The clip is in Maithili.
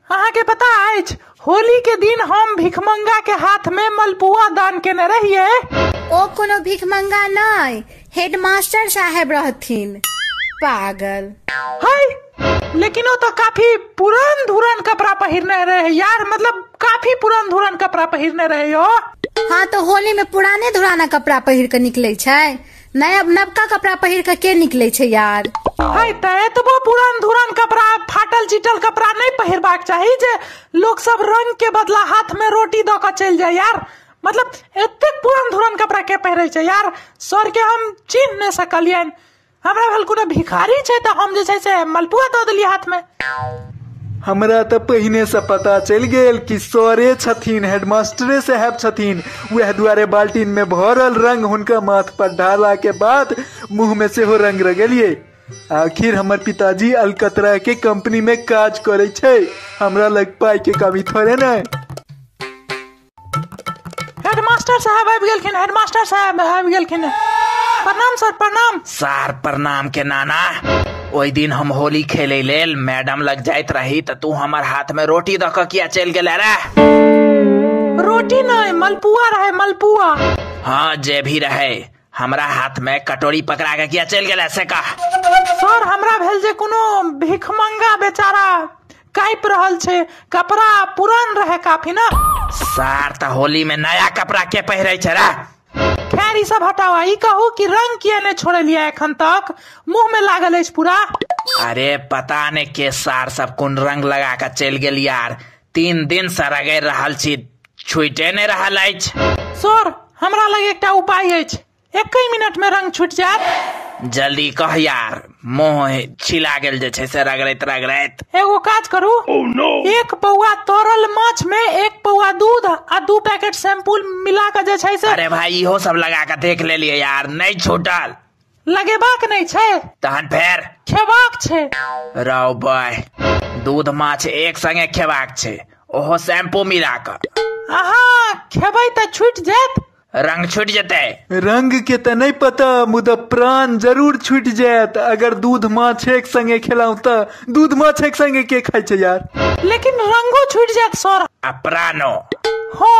अहाँके पता अछि होली के दिन हम भिखमंगा के हाथ में मलपुआ दान केने रहिए ओ कोनो भिखमंगा नहि हेडमास्टर साहेब रहथिन पागल है लेकिन वो तो काफी पुरान धुरान कपड़ा पहिरने रहे यार मतलब काफी पुरान धुरान कपड़ा पहिरने रहे हो हाँ तो होली में पुराने धुराना कपड़ा पहिर के निकले छै नया नबका कपड़ा पहिर के के निकले छै यार है ते एतबो पुरान धुरान कपड़ा फाटल चिटल कपड़ा नहीं पहिरबाक चाही जे लोग सब रंग के बदला हाथ में रोटी दऽ कऽ चलि जाय यार मतलब एतेक पुरान धुरान कपड़ा के पहिरै छै यार सर के हम चिन्ह नहि सकलियनि हमरा भेल कोनो भिखारी छै तऽ हम जे छै से मलपुआ दऽ देलियै हाथ में हमरा तऽ पहिनेसँ पता चलि गेल कि सरे छथिन हेडमास्टरे साहेब छथिन उएह दुआरे बाल्टीनमे भरल रंग हुनका माथ पर ढाला के बाद मुंह में सेहो रंग रगेलिए आखिर हमर पिताजी अलकतरा के कंपनी में काज करे छे हमरा लग पाई के कमी थोड़े नहीं हेडमास्टर साहब आबि गेलखिन हेडमास्टर साहब आबि गेलखिन प्रणाम सर प्रणाम सार प्रणाम के नाना ओहि दिन हम होली खेले लेल मैडम लग जाइत रही तऽ तू हमर हाथ में रोटी दऽ कऽ किया चलि गेले रे रोटी नहि मलपुआ रहे मलपुआ हाँ जे भी रहे हमरा हाथ में कटोरी पकड़ा के किया चल गेला से कह सर हमरा भेल जे कोनो भिखमंगा बेचारा काइप रहल छै कपड़ा पुरान रहे काफी ना सार त होली में नया कपड़ा के पहिरे छै रे खैर ई सब हटाओ ई कहू कि रंग किया ने छोड़लिया एखन तक मुंह में लागल अछि पूरा अरे पता ने के सार सब कोन रंग लगा के चल गेल यार तीन दिन से रगड़ि रहल छी छूटे नहि रहल अछि सर हमरा लग एकटा उपाय अछि एकहि मिनट में रंग छूट जायत जल्दी कह यार मोह छिला गेल जे छै से रगड़ैत रगड़ैत एगो काज करू एक पौआ तरल माछ में एक पौआ दूध आ दू पैकेट शैम्पूल मिला के जे छै से अरे भाई इहो सब लगा के देख लेलिए यार नहीं छूटल लगेबाक नहि छै तहन फेर खेबाक छै राव बाय दूध माछ एक संगे खेबाक छै ओहो शैम्पू मिला कऽ अहाँ खेबै तऽ छुटि जायत रंग छुटि जेतै रंग के तऽ नहि पता मुदा प्राण जरूर छुटि जायत अगर दूध माछ एक संगे खेलहुँ तऽ दूध माछ एक संगे के खाइ छै यार लेकिन रंगो छुटि जायत सर आ प्राणो हँ